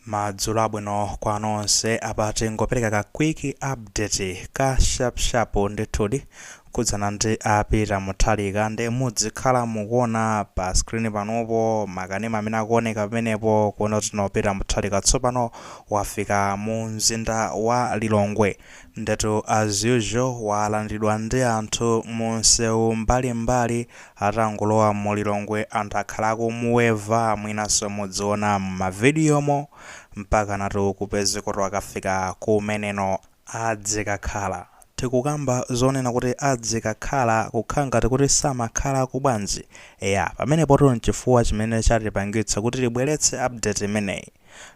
madzulo abwino kwa nonse apa tingopereka ka quick update ka sharp sharp ndithudi kudzana ndi a Peter Mutharika ndi mudzikhala mukuona pa screen panopo makanema amene akuoneka pamenepo kuona kuti no Peter Mutharika tsopano wafika mu mzinda wa lilongwe ndetu as usual walandiridwa ndi anthu mu msewu mbalimbali Atangolowa mu Lilongwe anthu akhala akumuweva mwinanso mudziona mma video mo mpakanatu kupezekatu akafika kumene no adzikakhala. Tikukamba zonena kuti adzikakhala kukhala ngati kuti samakhalako bwanji? Eya pamenepotu nchifukwa chimene chatipangitsa kuti tibweretse update imeneyi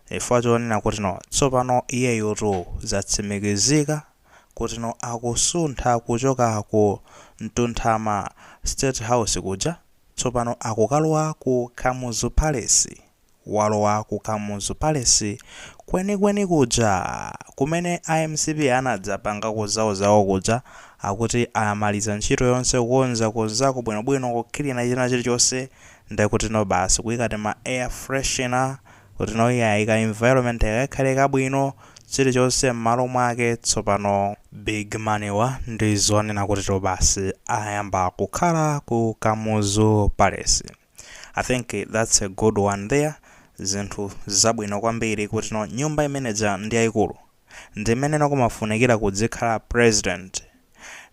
chifukwa chonena kuti no tsopano iyeyutu zatsimikizika kuti no akusuntha kuchoka ku Mtunthama state house kuja tsopano akukalowa ku Kamuzu Palace. Walowa ku Kamuzu Palace kwenikweni kuja kumene a mcp anadzapangako zawozawo kuja akuti amaliza ntchito yonse kukonza konzako bwinobwino kukilina china chilichonse nde kuti no basi kuyika tima air freshener Kuti no iyayi ka environment kakakhale kabwino chilichonse mmalo mwake tsopano. Big man wa ndi zonena kuti to basi ayamba kukhala ku kamuzu palace I think that's a good one there zinthu zabwino kwambiri kuti no nyumba imeneja ndi yaikulu ndi imene no kumafunikira kudzikhala president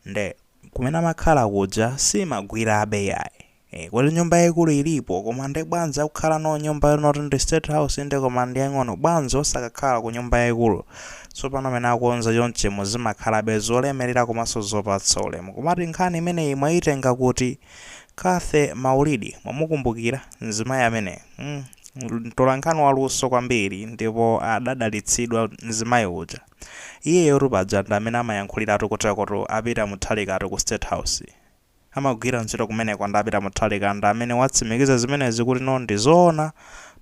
nde kumene amakhala kuja siimagwirabe yayi. Eh, kuti nyumba yaikulu ilipo koma nde bwanji akukhala no nyumba yonoti ndi state house inde koma ndi yang'ono bwanji osakakhala ku nyumba yaikulu tsopano amene akonza chonchimu zimakhalabe zolemerera komanso zopatsa ulemu komati nkhani imeneyi mwayitenga kuti Cathy Maulidi mwamukumbukira mzimayi amene mm, mtolankhani waluso kwambiri ndipo adadalitsidwa mzimayi uja iyeyotu paja ndi amene amayankhuliratu kutakoto a Peter Mutharikatu ku state house amagwira ntchito kumeneko ndi a Peter Mutharika ndi amene watsimikiza zimenezi kuti no ndi zoona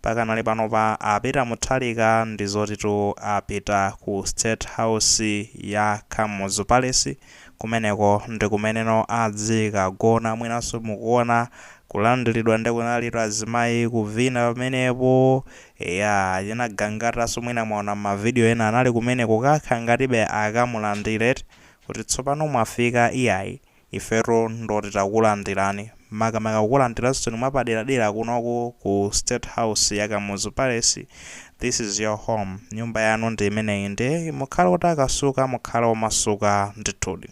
pakanali panopa a Peter Mutharika ndi zotitu apita ku state house ya Kamuzu Palace kumeneko ndi kumene no adzikagona mwinanso mukuona kulandiridwa ndi kunalitu azimayi kuvina pamenepo eya chinagangatanso mwina mwaona ma video ena anali kumeneko kukhala ngatibe akamulandire eti kuti tsopano mwafika iyayi ifetu ndoti takulandirani makamaka kukulandiraninso mwapaderadera kunoko ku state house ya Kamuzu Palace, this is your home, nyumba yanu ndi imeneyi nde mukhale otakasuka mukhale omasuka ndithudi.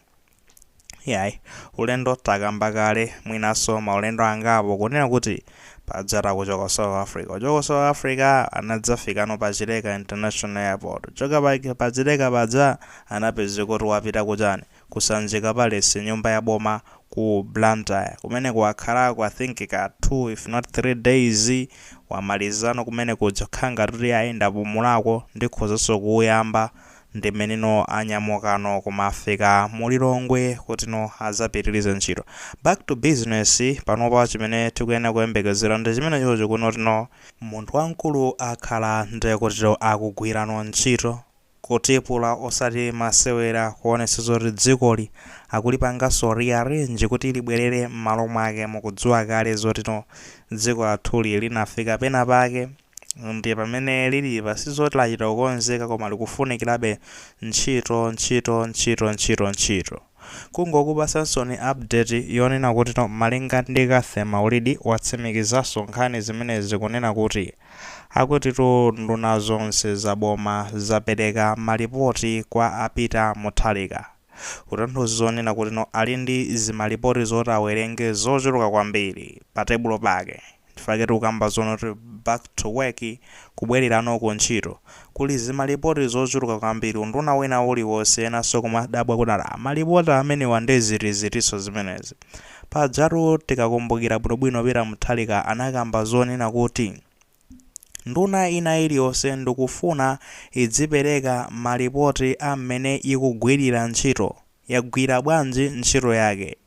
Iyayi, ulendo takamba kale mwinanso maulendo angapo kunena kuti paja atachoka ku South Africa, kuchoka South Africa anadzafikano pa Chileka International Airport, kuchoka pa Chileka paja anapezeka kuti wapita kuchani, ku Sanjika Palace nyumba ya boma ku Blantyre kumeneko wakhalako I think ka 2 if not 3 days wamalizano kumene kuja kukhala ngati kuti ayi ndapumulako ndikhozanso kuuyamba ndi mmeneno anyamukano kumafika mu Lilongwe kutino azapitilize ntchito back to business panopa chimene tikuyenera kuyembekezera ndi chimenechocho kunotino munthu wamkulu akhala ndekutito akugwirano ntchito Kutipula osati masewera kuonetsa zoti dzikoli akulipanganso rearrange kuti libwerere mmalo mwake mukudziwa kale zotino dziko lathuli linafika pena pake nde pamene lilipa sizoti lachita kukonzeka koma likufunikirabe ntchito ntchito ntchito ntchito ntchito. Kungokupatsaninso update yonena kutino malinga ndi Cathy Maulidi watsimikizanso nkhani zimenezi kunena kuti akutitu nduna zonse za boma zapereka malipoti kwa a Peter Mutharika kutanthauza zonena kutino ali ndi zimalipoti zoti awerenge zochuluka kwambiri patebulo pake Nchifukwa chake tikukamba zonena kuti back to work kubwererano ku ntchito kuli zimalipoti zochuluka kwambiri unduna wina uliwonse enanso kumadabwa kuti ala malipoti amenewa nde ziti zitinso zimenezi pajatu tikakumbukira bwinobwino Peter Mutharika anakamba zonena kuti nduna ina iliyonse ndikufuna idzipereka malipoti ammene ikugwirira ntchito yagwira bwanji ntchito yake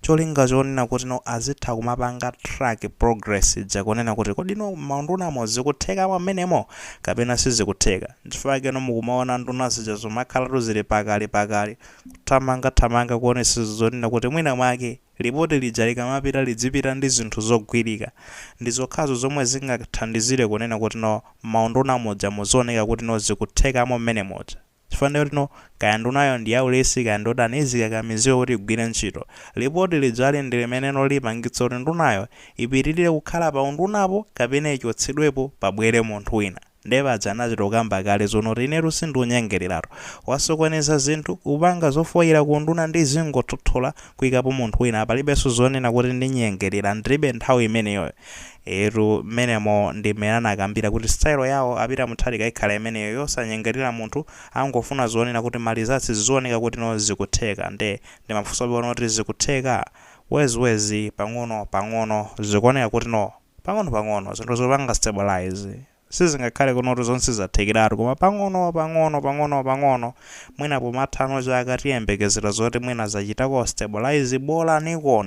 cholinga chonena kutino azitha kumapanga track progress ija kunena kuti kodino mmaundunamo zikuthekamo mmenemo kapena sizikutheka nchifukwa chakeno mukumaona nduna zija zumakhalatu zili pakali pakali kuthamanga thamanga kuonetsetsa zonena kuti mwina mwake lipoti lija likamapita lidzipita ndi zinthu zogwirika ndi zokhazo zomwe zingathandizire kunena kutino mmaunduna muja muzioneka kutino zikuthekamo mmene muja. Chifukwa ndiye kutino kaya ndunayo ndi yaulesi kaya ndiotani izikakamizidwa kuti igwire ntchito. Lipoti lijali ndi limeneno lipangitse kuti ndunayo ipitirire kukhala pa undunapo kapena ichotsedwepo pabwere munthu wina. Ndiye paja anachita kukamba kale zonoti inetu sindunyengereratu. Wasokoneza zinthu, ukupanga zofoyira ku unduna ndizingothothola kuikapo munthu wina. Palibenso zonena kuti ndinyengerera, ndilibe nthawi imeneyoyo. Eetu mmenemo ndi mmene anakambira kuti style yawo a Peter Mutharika ikhala imeneyo yosanyengerera munthu angofuna zionere kuti ma results zioneka kuti no zikutheka nde ndimafunsabe pano kuti zikutheka? Wezi wezi pang'ono pang'ono zikuoneka kuti no pang'ono pang'ono zinthu zikupanga stabilise. Sizingakhale kunoti zonse zathekeratu koma pang'ono pang'ono pang'ono pang'ono mwina pomatha ano chaka tiyembekezera zoti mwina zachitako stabilize bolaniko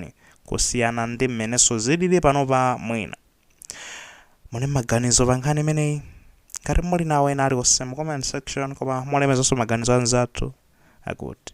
kusiyana ndi mmenenso zilili panopa mwina muli maganizo pa nkhani imeneyi ngati muli nawo ena aliwonse mu comment section koma mulemezanso maganizo anzathu akuti